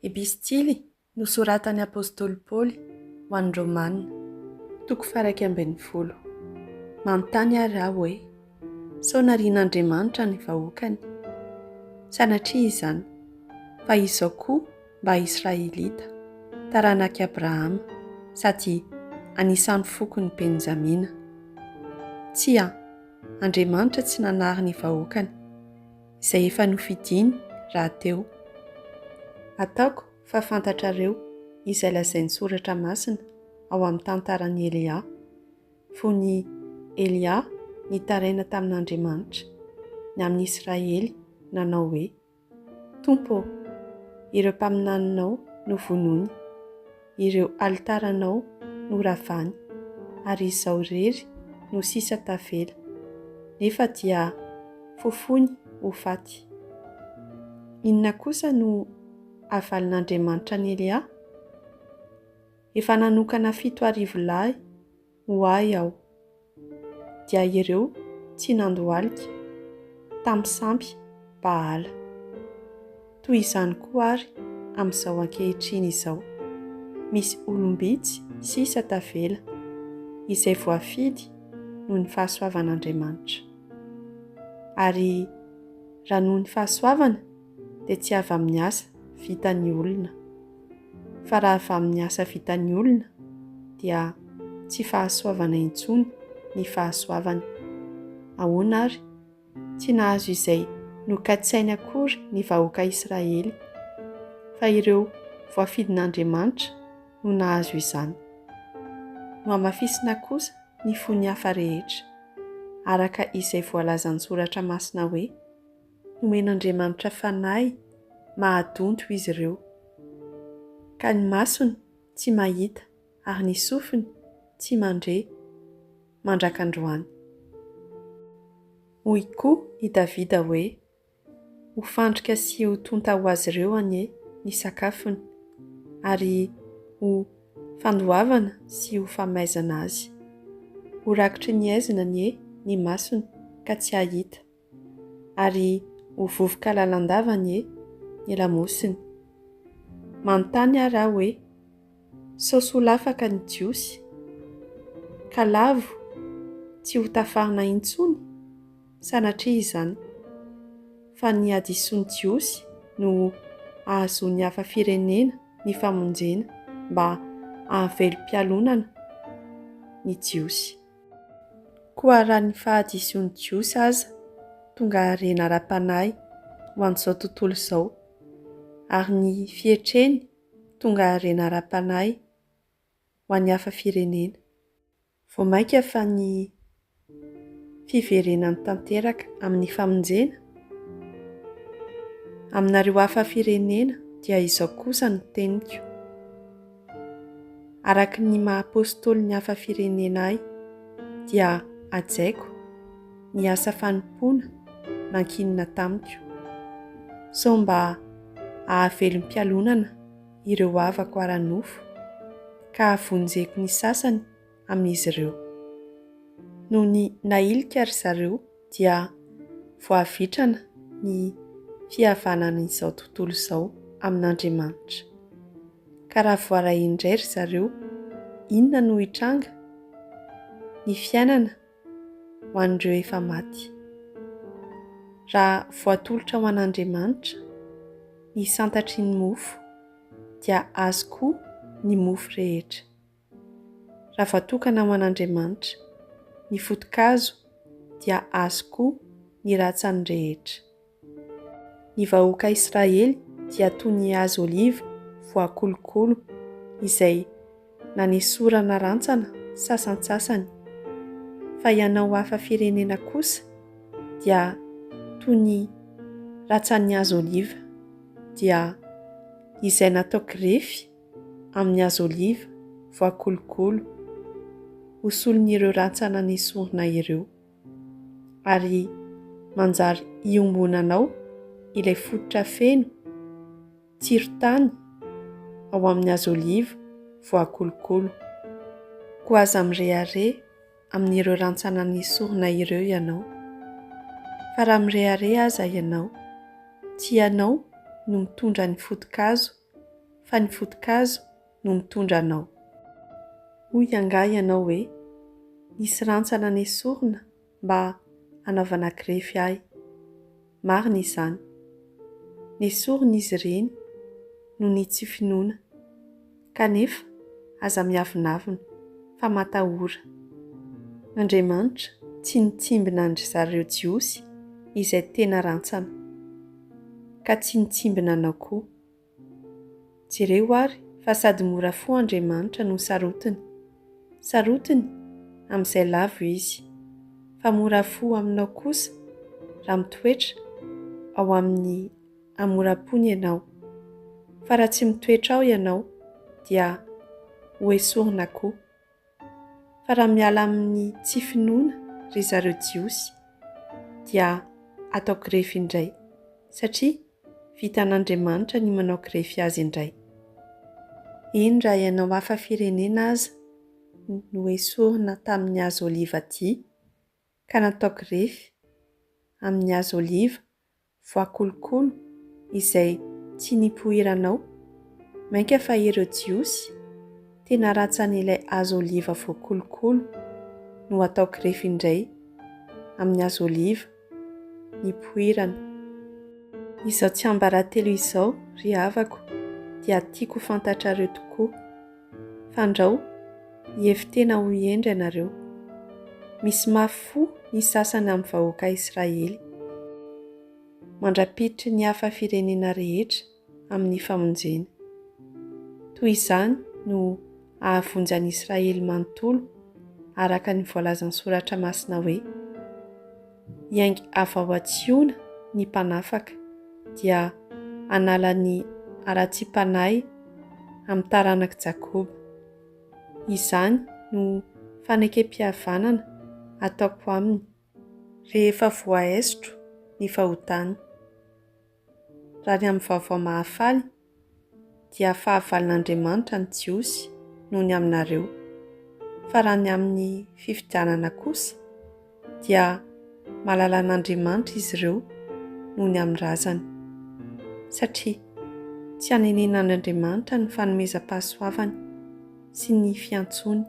Epistily nosoratan'ny apostoly Paoly ho an'ny Romana. Toko faharaika ambin'ny folo. Manontany àry aho hoe, Sao narian'Andriamanitra ny vahoakany? Sanatria izany, fa izao koa mba Israelita, taranak'i Abrahama, sady anisan'ny fokon'i Benjamina. Tsia, Andriamanitra tsy nanary ny vahoakany. izay efa nofidiny rahateo. Ataoko fa fantatrareo izay lazain'ny Soratra Masina ao amin'ny tantaran'i Elia. Fony i Elia nitaraina tamin'Andriamanitra, ny amin'ny Israely, nanao hoe, Tompo ô, ireo mpaminaninao novonoiny. Ireo alitaranao no ravany, ary izao irery no sisa tavela, nefa dia fofoiny ho faty. Inona kosa no havalin'Andriamanitra an'i Elia? Efa nanokana fito arivo lahy ho ahy aho. Dia ireo tsy nandohalika tamin'ny sampy Baala. Toy izany koa àry amin'izao ankehitriny izao, misy olom-bitsy sisa tavela, izay voafidy noho ny fahasoavan'Andriamanitra. Ary raha noho ny fahasoavana, dia tsy avy amin'ny asa vitan'ny olona. Fa raha avy amin'ny asa vitan'ny olona dia tsy fahasoavana intsony ny fahasoavany. Ahoana ary? Tsy nahazo izay nokatsainy akory ny vahoaka Israely, fa ireo voafidin'Andriamanitra no nahazo izany. Nohamafisina kosa ny fony hafa rehetra, araka izay voalazan'ny Soratra Masina hoe. Nomen'Andriamanitra fanahy mahadonto izy ireo, ka ny masony tsy mahita ary ny sofiny tsy mandre mandrak'androany. Hoy koa i Davida hoe, Ho fandrika sy ho tonta ho azy ireo anie ny sakafony, ary ho fandoavana sy ho famaizana azy. Ho rakitry ny aizina anie ny masony ka tsy hahita. ary ho vovoka lalandava anie ny lamosiny. Manontany ary aho hoe, sao soa lafaka ny Jiosy, ka lavo tsy ho tafarina intsony? Sanatria izany, fa ny hadisoan'ny Jiosy no hahazoan'ny hafa firenena ny famonjena mba hahavelom-pialonana ny Jiosy. Koa raha ny fahadisoan'ny Jiosy aza tonga harena ara-panahy ho an'izao tontolo izao, ary ny fietreny tonga harena ara-panahy ho an'ny hafa firenena, vao mainka fa ny fiverenany tanteraka amin'ny famonjena? Aminareo hafa firenena dia izao kosa no teniko. araka ny maha Apôstôly ny hafa firenena ahy, dia hajaiko ny asa fanompoana nankinina tamiko, sao mba hahavelom-pialonana ireo havako ara-nofo, ka havonjeko ny sasany amin'izy ireo. Nony nahilika ry zareo dia voavitrana ny fihavanan'izao tontolo izao amin'Andriamanitra. Ka raha voaray indray ry zareo, inona no hitranga? Ny fiainana ho an'ireo efa maty. Raha voatolotra ho an'Andriamanitra ny santatry ny mofo dia azy koa ny mofo rehetra. Raha voatokana ho an'Andriamanitra ny foto-kazo dia azy koa ny ratsany rehetra. Ny vahoaka Israely dia toy ny hazo oliva voakolokolo izay nanesorana rantsana sasantsasany, fa ianao hafa firenena kosa dia toy ny ratsan'ny hazo oliva, dia izay natao grefy, amin'ny hazo oliva voakolokolo ho solon'ireo rantsana nesorina ireo, ary manjary iombonanao ilay fototra feno tsiron-tany ao amin'ny hazo oliva voakolokolo. Koa aza mirehareha amin'ireo rantsana nesorina ireo ianao, fa raha mirehareha aza ianao, tsy ianao no mitondra ny foto-kazo fa ny foto-kazo no mitondra anao. Hoy angaha ianao hoe, Nisy rantsana nesorina mba hanaovana grefy ahy. Marina izany. Nesorina izy ireny noho ny tsy finoana. Kanefa aza miavonavona fa matahora. Andriamanitra tsy nitsimbina an-dry zareo Jiosy izay tena rantsana. ka tsy nitsimbina anao koa. Jereo ary fa sady mora fo Andriamanitra no sarotiny. Sarotiny amin'izay lavo Izy, fa mora fo aminao kosa raha mitoetra ao amin'ny hamoram-pony ianao. Fa raha tsy mitoetra ao ianao dia hoesorina koa. fa raha miala amin'ny tsy finoana ry zareo jiosy dia atao grefy indray satria vitan'Andriamanitra ny manao grefy azy indray. Eny raha ianao hafa firenena aza no esorina tamin'ny hazo oliva dia ka natao grefy amin'ny hazo oliva voakolokolo izay tsy nipoiranao. Mainka fa ireo Jiosy tena ratsy an'ilay hazo oliva voakolokolo no atao grefy indray amin'ny hazo oliva nipoirana. Izao tsiambaratelo izao, ry havako, dia tiako ho fantatrareo tokoa. Fandrao, hihevi-tena ho hendry ianareo. Misy mafy fo ny sasany amin'ny vahoaka Israely. Mandra-piditry ny hafa firenena rehetra amin'ny famonjena. Toy izany no hahavonjy an'i Israely manontolo, araka ny voalazan'ny Soratra Masina hoe. hiainga avy ao an-tSiona ny mpanafaka, dia hanala ny haratsiam-panahy amin'ny taranak'i Jakoba. Izany no fanekempihavanana ataoko aminy, rehefa voaesotro ny fahotany, raha ny amin'ny vaovao mahafaly dia fahavalon'Andriamanitra ny Jiosy noho ny aminareo, fa raha ny amin'ny fifidianana kosa, dia malalan'Andriamanitra izy ireo noho ny amin'ny razany, satria tsy anenenan'Andriamanitra ny fanomezam-pahasoavany sy ny fiantsoany,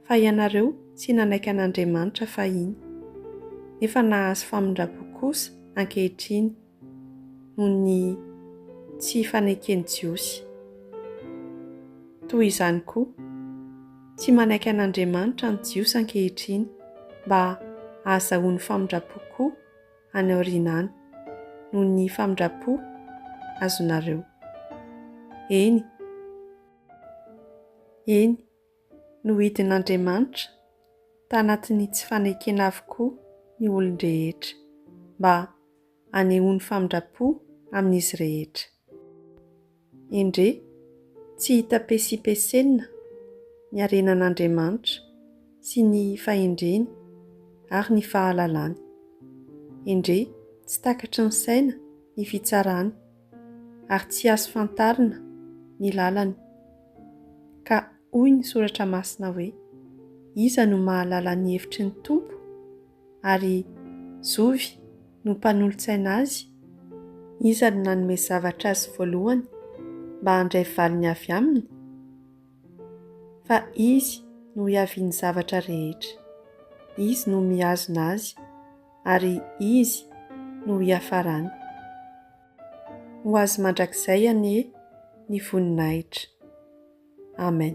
fa ianareo tsy nanaiky an'Andriamanitra fahiny, nefa nahazo famindram-po kosa ankehitriny noho ny tsy faneken'ny Jiosy. Toy izany koa, tsy manaiky an'Andriamanitra ny Jiosy ankehitriny mba hahazahoany famindram-po koa any aoriana any, noho ny famindram-po azonareo. Eny. Eny. Nohidin'Andriamanitra tanatin'ny tsy fanekena avokoa ny olon-drehetra, mba hanehoany famindram-po amin'izy rehetra. Endrey, tsy hita pesipesenina ny harenan'Andriamanitra sy ny fahendreny ary ny fahalalany. Endrey, tsy takatry ny saina ny fitsarany ary tsy azo fantarina ny lalany. Ka hoy ny Soratra Masina hoe, Iza no mahalala ny hevitry ny Tompo? ary Zovy no mpanolo-tsaina Azy? Iza no nanome zavatra Azy voalohany mba handray valiny avy Aminy? Fa Izy no ihavian'ny zavatra rehetra. Izy no mihazona Azy ary Izy no hiafarany. Ho Azy mandrakizay anie ny voninahitra. Amen.